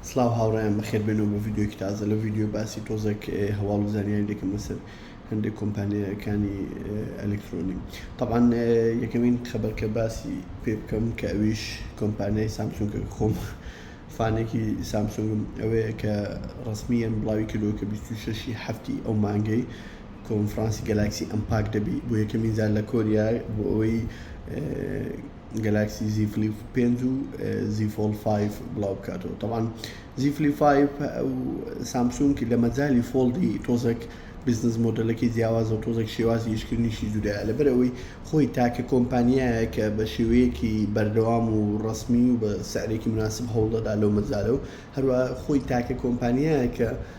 سڵاو هاوڕێیان بەخێر بێنەوە بۆ ڤیدیۆکی تازە لە ڤیدیۆ باسی تۆزەک هەواڵ و زانیاری دەکەم لەسەر هەندێک کۆمپانیەکانی ئەلکترۆنی طبعاان یەکەمین خەبەرکە باسی پێ بکەم کە ئەویش کۆمپانیای سامسونگە خۆم فانێکی سامسونگم ئەوەیە کە ڕسمیەن بڵاوی کردو کە 26 هەفتی ئەو مانگەی کۆنفرانسی گەلاکسی ئەمپاک دەبی بۆ یەکەمین زار لە کۆریا بۆ ئەوەی گەلاکسی زی فلیپ پێنج و زی فۆڵ فایف بڵاو بکاتەوە تەوان زی فلی فایف ئەو سامسونکی لە مەجای فۆڵدی تۆزەک بزنس مۆدلەکەی جیاوازە و تۆزەک شێوازی یشکردنیشی جودایە لەبەر ئەوەی خۆی تاکە کۆمپانیایە کە بە شێوەیەکی بەردەوام و ڕسمی و بە سعرێکی مناسب هەوڵدەدا لەو مەجارە و هەروە خۆی تاکە کۆمپانیایە کە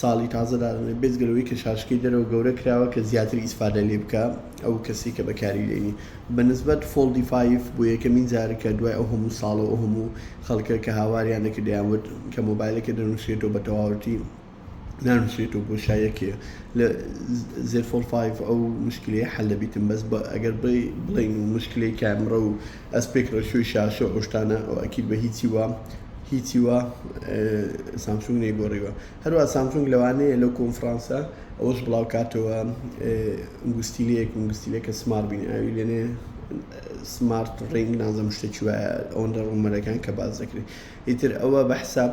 ساڵی تازە دادەنێت بێجگە لەوەی کە شاشەکەی دەرەوە گەورە کراوە کە زیاتر ئیسفادە لێ بکا ئەو کەسی کە بەکاری دێنی بە نسبەت فۆڵدی فایڤ بۆ یەکەمین جار کە دوای ئەو هەموو ساڵە و ئەو هەموو خەڵکە کە هاواریان دەکرد دەیانوت کە مۆبایلەکە دەنووسرێتەوە بە تەواوەتی نانووسرێتەوە بۆشایەکێ لە زێفۆڵ فایڤ ئەو مشکلەیە حەل دەبیتن بەس بە ئەگەر بڵێین و مشکلەی کامرە و ئەسپێک ڕێشۆی شاشە و ئەو شتانە ئەو ئەکید بە هیچی وا هیچی وا سامسونگ نەیگۆڕیوە هەروە سامسونگ لەوانەیە لەو کۆنفرانسە ئەوەش بڵاو کاتەوە گوستیلەیەک گوستیلەکە سمار بین ئاوی لێنێ سمارت ڕنگ نازم شتێکی وایە ئەوەندە ڕومەرەکان کە باز دەکرێت ئیتر ئەوە بە حساب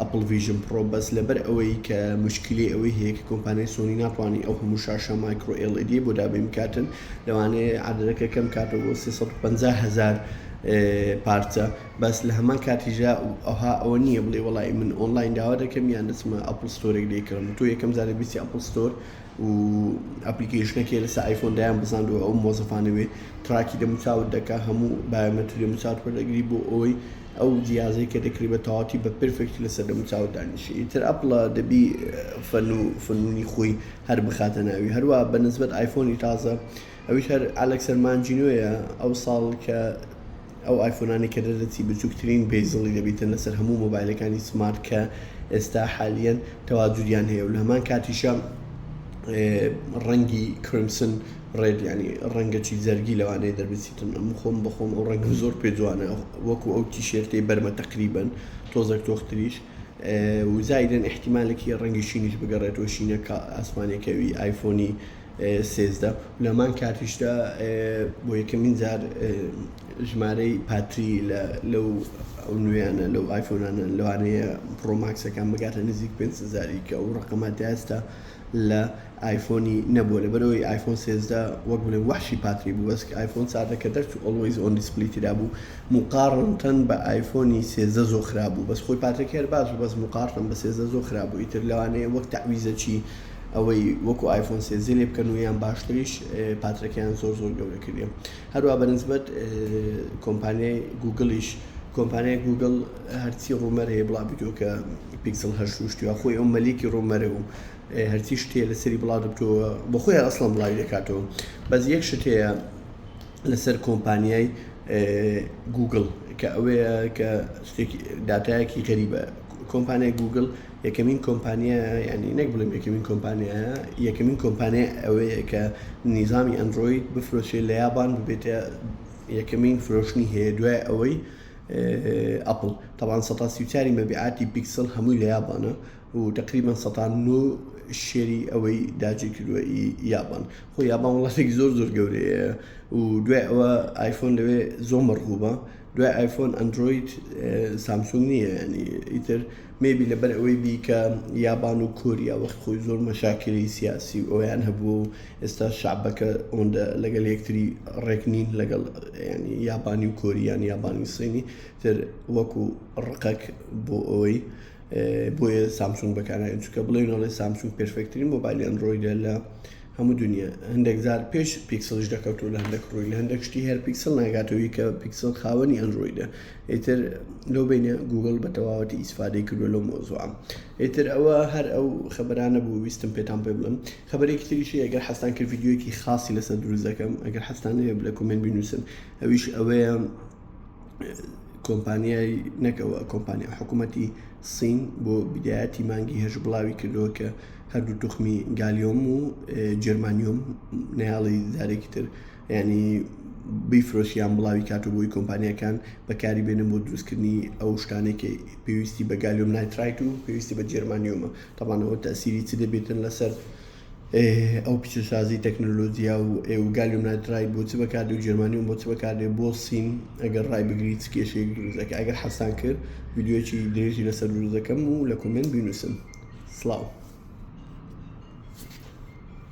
ئەپڵ ڤیژن پڕۆ بەس لەبەر ئەوەی کە مشکلی ئەوەی هەیە کە کۆمپانیای سۆنی ناتوانی ئەو هەموو شاشە مایکرۆ ئێڵ ئێدیەی بۆ دابین بکاتن لەوانەیە عەدەدەکە کەم کاتەوە بۆ سێ سەد و پەنجا هەزار پارچە بەس لە هەمان کاتیژا ئەوها ئەوە نییە بڵێ وڵی من ئۆنلاین داوا دەکەم یان دەچمە ئەپڵ ستۆرێک لێکڕم تۆ یەکەم جارە بیستی ئەپڵ ستۆر و ئەپلیکیشنەکەی لەسە ئایفۆن دایان بزاند و ئەو مۆزەفانەوێ تراکی دەموچاوت دەکا هەموو بایۆمەتری دەموچاوت وەردەگری بۆ ئەوەی ئەو جیهازەی کە دەکری بە تەواوەتی بە پرفێکت لە سەر دەمو چاوت دانیشێ ئیتر ئەپڵە دەبی فەن و فنونی خۆی هەر بخاتە ناوی هەروا بە نسبەت ئایفۆنی تازە ئەویش هەر ئەلەکسەر مانجینۆیە ئەو ساڵ کە ئەو ئایفۆنانی کە دەدەچی بچوکترین بێزڵی دەبیتن لەسەر هەموو مۆبایلەکانی سمارت کە ئێستا حالیەن تەواجودیان هەیە و لە هەمان کاتیشە ڕەنگی کرمسن ڕێد یانی ڕەنگەچی جەرگی لەوانەیە دەربچیتن ئەم خۆم بەخۆم ئەو ڕەنگم زۆر پێ جوانە وەکو ئەو تیشێرتەی بەرمە تەقریبن تۆزەک تۆختریش وزایدن احتیمالێکی ڕەنگی شینیش بگەڕێتەوە شینە کە ئاسمانەکەوی ئایفۆنی سێزدە لەمان کاتیشدا بۆ یەکەمین جار ژمارەی پاتری لەو ئەو نوێیانە لەو ئایفۆنانە لەوانەیە پرۆماکسەکان بگاتە نزیک پێنجزاری کە ئەو ڕقەمە داستا لە ئایفۆنی نەبووە لەبەرئەوەی ئایفۆن سێزدە وەک بڵێ وەحشی پاتری بوو بەس ئایفۆن چاردە کە دەرچوو ئۆڵوەیز ئۆن دیسپلی تیدابوو موقاڕنتەن بە ئایفۆنی سێزدە زۆ خراپ بوو بەس خۆی پاترەکەی هەر باش بوو بەس موقاڕتەن بە سێزدە زۆ خراپ بوو ئیتر لەوانەیە وەک تەعویزە چی ئەوەی وەکو ئایفۆن سێزدە لێ بکەن و یان باشتریش پاترەکەیان زۆر زۆر گەورە کردیە هەروا بە نسبەت کۆمپانیای گووگڵیش، کۆمپانیای گووگڵ هەرچی ڕوومەر هەیە بڵاو بتووە کە پیکسڵ هەشت ڕووشتووە خۆی ئەو مەلیکی ڕوومەرە و هەرچی شتێ لەسەری بڵاو دەبتەوە بۆ خۆی ئەسڵەن بڵاوی دەکاتەوە بەس یەک شت هەیە لەسەر کۆمپانیای گووگڵ کە ئەوەیە کە داتایەکی غەریبە کۆمپانیای گووگڵ یەکەمین کۆمپانیایە یانی نەک بڵێم یەکەمین کۆمپانیایە یەکەمین کۆمپانیای ئەوەیە کە نیزامی ئەندرۆید بفرۆشێ لە یابان ببێتە یەکەمین فرۆشتنی هەیە دوای ئەوەی ئەپل تاوان 1940 مەبیعاتی پیکسل هەمووی لە یابانە و تقریبان 1990 شێری ئەوەی داجی کردووە یابان خۆ یابان وڵاتێک زۆر زۆر گەورەیە و دوای ئەوە ئایفۆن لەوێ زۆمەڕ بووبە دوای ئایفۆن ئەندرۆید سامسونگ نییە ینی ئیتر مێبی لەبەر ئەوەی بیکە یابان و کۆریا وەخت خۆی زۆر مەشاکری سیاسی و ئەویان هەبوو و ئێستا شعبەکە ئەوەندە لەگەل یەکتری ڕێک نین لەگەڵ ینی یابانی و کۆریان یابانی سینی تر وەکو ڕقەک بۆ ئەوەی بۆیە سامسونگ بەکارناین چکە بڵێنەوەی سامسونگ پرفکتترین مۆبایلیان ڕۆیدە لە هەموو دونیا هەندێک جار پێش پیکسلیش دەکەوتو لە هەندێک ڕووی لە هەندێک شتی هەر پیکسل ناگاتەوەی کە پیکسل خاوەنی ئەندرویدە ئیتر لەو بینە گوگل بە تەواوەتی ئیسفادەی کردو لەو مۆزوعم ئیتر ئەوە هەر ئەو خبرانە بوو ویستم پێتان پێ بڵم خبرێکی تریشی ئەگەر حەستان کرد یددیوەکی خاصی لەسەر دروست دەکەم ئەگەر حەستان هەیە لە کومێنت بینوسن ئەویش ئەوەیە کۆمپانیای نەکەوە کۆمپانیا حکوومەتی سین بۆ بدایەتی مانگی هێش بڵاوی کردووە کە هەردوو توخمی گالیۆم و جرمانیۆم ناڵی زارێکی تر ینی بیفرۆسیان بڵاوی کات و بۆی کۆمپانیەکان بەکاری بێنن بۆ دروستکردنی ئەو شتانێکی پێویستی بە گالیۆم نایترایت و پێویستی بە جرمانیۆمە تاوانەوە تاسیری چ دەبێتن لەسەر ئێ ئەو پیشەسازی تەکنەلۆجیا و ئێ و گالیۆم نایترایت بۆ چ بەکاردێ و جێرمانیۆم بۆ چ بەکاردێ بۆ سین ئەگەر ڕای بگری چ کێشەیەک دروست دەکا ئەگەر حەزتان کرد ڤیدیۆیەکی درێژی لەسەر دروست دەکەم و لە کۆمێنت بینووسن سڵاو